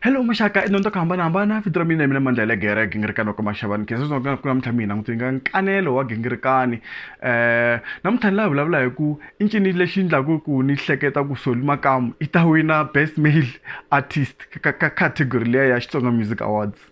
Hello maxaka i dyondzo ku hambanahambana vito ra mina mina mandla le gere gingirikani wa ka maxavani khe sweswi ku namuntlha mi hina n'witini ka nkanelo wa gingirikani um namuntlha ni la vulavula hi ku i ncini lexi endlaku ku ni hleketa ku soli makamu i ta wina best male artist ka category liya ya xitsonga music awards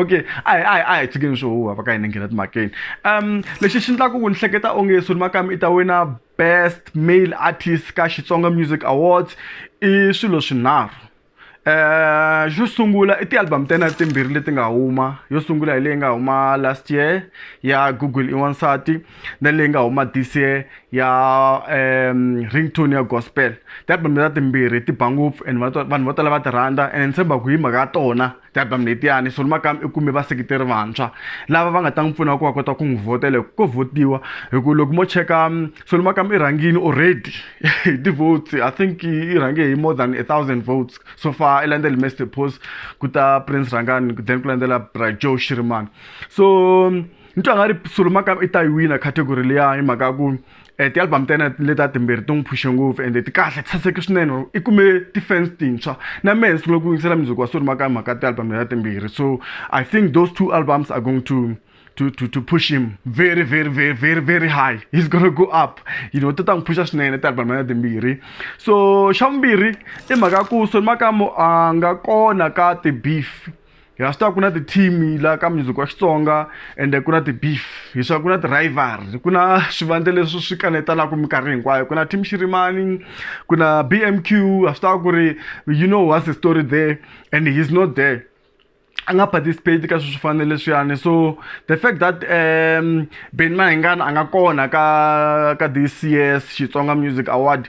okay a hi a hi a hi tshikeni swo huha va ka hina nghena timhakeni um lexi xi endlaku ku ni hleketa onge soni makami i ta wina best male artist ka xitsonga music awards i swilo swinharhu Eh xo sungula i ti-album ta yena timbirhi leti nga huma yo sungula hi leyi nga huma last year ya google i wansati na leyi nga huma this year ya um ringtone ya gospel ti-album leta timbirhi ti ba ngopfu and vanhu vo tala va ti rhandza and ni tshemba ku hi mhaka ya tona ti-album letiyani so nimakami i kume vaseketeri vantshwa lava va nga ta n'wi pfuna ku va kota ku n'wi vhotela hi ko vhotiwa hi ku loko mo cheka um, so nimakami i rhangini already hi ti-votes i think i rhange hi more than a thousand votes so far i landzele master post ku ta prince rhangani then ku landzela bra joe shirimani so um, ni twa nga ri sulumaka i ta yi wina category liya hi mhaka ya ku um ti-album ta yena leta timbirhi ti n'wi phushe ngopfu ende ti kahle ti saseke swinene i kume ti-fans tintshwa na mehe ni sungule ku yingisela music wa sulumaka hi mhaka ti-album leta timbirhi so i think those two albums are going to to, to, to push him very very very very very high he's gonna go up you know ti ta n'wi phusha swinene ti-album leta timbirhi so xa vumbirhi i mhaka ya ku sulumaka mo a nga kona ka ti-beef hi wa swi tiva ku na ti-team laha ka music wa xitsonga ende ku na ti-beef hi swa ku na ti-rival ku na swivandla leswi swi kanetanaka minkarhi hinkwayo ku na team xirimani ku na b m q ha swi tiva ku ri you know what's the story there and he's not there a nga participate ka swilo swo fana leswiyani so the fact that um ben mahingana a nga kona ka ka this years xitsonga music award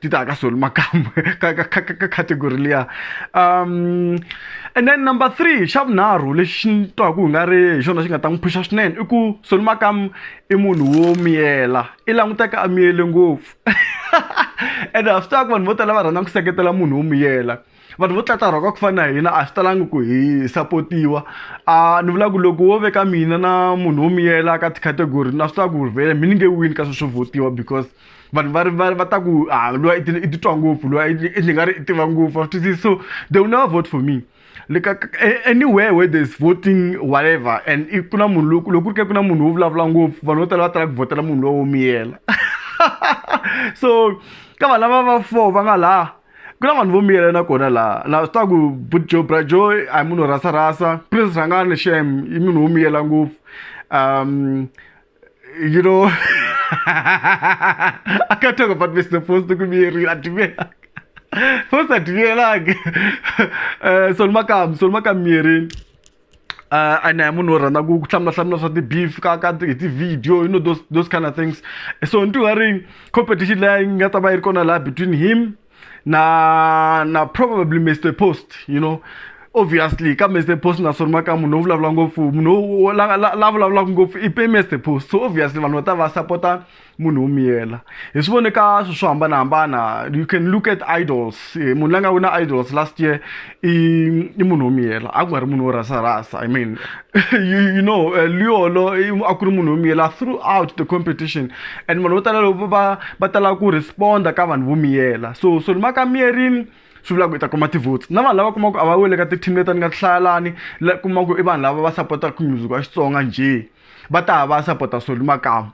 ti ta ka soli makamu ka ka ka ka category liya um and then number three xa vunharhu lexi ni twaku hi nga ri hi xona xi nga ta n'wi phuxa swinene i ku soli makamu i munhu wo miyela i languteka a miyele ngopfu ende ha swi tiva ku vanhu vo tala va rhandza ku seketela munhu wo miyela vanhu vo tlata rhaka ku fana na hina a swi talangi ku hi sapotiwa a ni vula ku loko wo veka mina na munhu wo miyela ka ti-category na swi tiva ku vhele mi ni nge wini ka swilo swo votiwa because vanhu va ri va va ta ku a lowa i titwa ngopfu lowa i ni nga ri i tiva ngopfu a swi twisisi so they will never vote for me like anywhere where there's voting whatever and if kuna munhu loko loko ku ri ke ku na munhu wo vulavula ngopfu vanhu vo tala va tala ku vhotela munhu lowo miyela so ka vanhu lava va four va nga laha ku na vanhu vo miyela na kona laha na swi tiva ku bujo brajo a hi munhu wo rasa rasa prince rhangani xem i munhu wo miyela ngopfu um you know i can't talk about mr post ku miyerile a tiveka post a tiviyelangi um soni makamu soni makamu miyerini uh, and a munhu wo rhandza ku hlamulahlamula swa ti-beef ka ka hi ti-video you know those, those kind of things so ni twa ri competition leyi nga ta va yi ri kona laha between him na na probably mr post you know obviously ka mr post na sori maka munhu wo vulavula ngopfu munhu la vulavulaka ngopfu i pe mr post so obviously vanhu va ta va sapota munhu wo miyela hi swi vone ka swilo swo hambanahambana you can look at idols eh, munhu la nga wina idols last year i i munhu wo miyela a ku nga ri munhu wo rasa rasa i mean you, you know uh, liolo a ku ri munhu wo miyela throughout the competition and vanhu vo tala loko va va tala ku responda ka vanhu vo miyela so so lima ka miyerini swi vulaka i ta kuma ti-votes na vanhu lava kumaka a va wele ka ti-team leti ni nga ti hlayalani la kumaka i vanhu lava va sapotaka music wa xitsonga njhe va ta va sapota soli makamu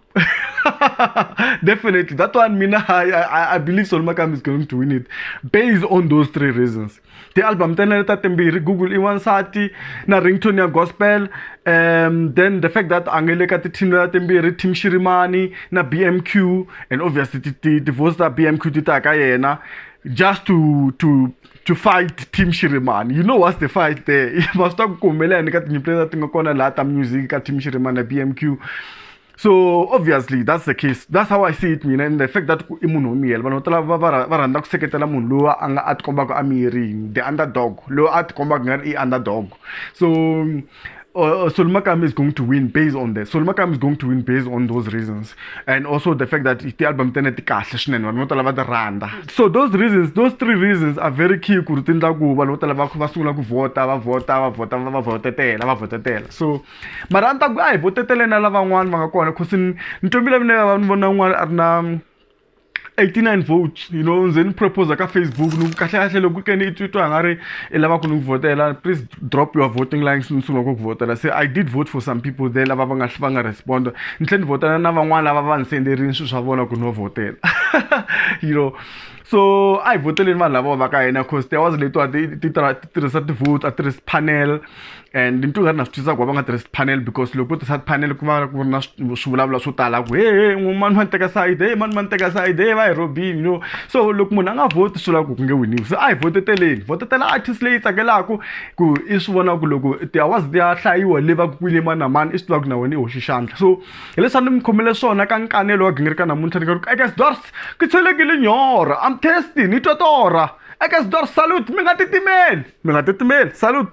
definitely that one mina I, I, I believe soli makamu is going to win it based on those three reasons ti-album ta nene ta timbirhi google i wansati na rington ya gospel um then the fact that a nge le ka ti-team ta timbirhi team shirimani na bmq and obviously ti-voice ta bmq ti ta ka yena just to to to fight team shirimani you know what's the fight there ma swi ta ku ku humelela ni ka tinyimpi leti ti nga kona laha ta music ka team shirimani na b m q so obviously that's the case that's how i see it mina and the fact that ku i munhu wo miyela vanhu vo tala va va va rhandza ku seketela munhu loyi a nga a tikombaka a miyerini the underdog loyi a tikombaka nga ri i underdog so uh, uh Solmakam is going to win based on that. Solmakam is going to win based on those reasons, and also the fact that the album tene ti kahle swinene vanhu vo tala va ti rhandza. So those reasons, those three reasons are very key ku ri ti endla ku vanhu vo tala va va sungula ku vhota va vhota va vhota va vhotetela va vhotetela. So mara a ni ta ku a hi voteteleni na lavan'wana va nga kona cause ni ntombile mina va ni vona un'wana a ri na 89 votes you know ndze ni proposer ka facebook ni ku kahle kahle loko ke ni titwa a nga ri i lava ku ni ku vhotela please drop your voting lines ni sungula ku ku vhotela se i did vote for some people there lava va nga va nga respond ni tlhela ni vhotela na van'wana lava va ni senderini swilo swa vona ku no vhotela you know so a hi voteleni vanhu lava va ka hina cause there was letiwa ti tirhisa ti-vote a tirhisa panel and ni twi nga ri na swi twisisa ku va va nga tirhisi panel because loko vo tirhisa panel ku va ku ri na swivulavula swo tala ku he he mani va ni teka side he mani va ni teka side he va hi robini no so loko munhu a nga vhoti swi lava ku ku nge winiwi se a hi voteteleni votetela artist leyi tsakelaka ku i swi vona ku loko tiawazi ti ya hlayiwa le va ku kwini mani na mani i swi tiva ku na wena i hoxi xandla so hileswi a ni mi khomele swona ka nkanelo wa gingirika namuntlha ni ka ku eka sidors ku tshelekile nyora am testing ni totora eka sidors salute mi nga titimeli mi nga titimeli salute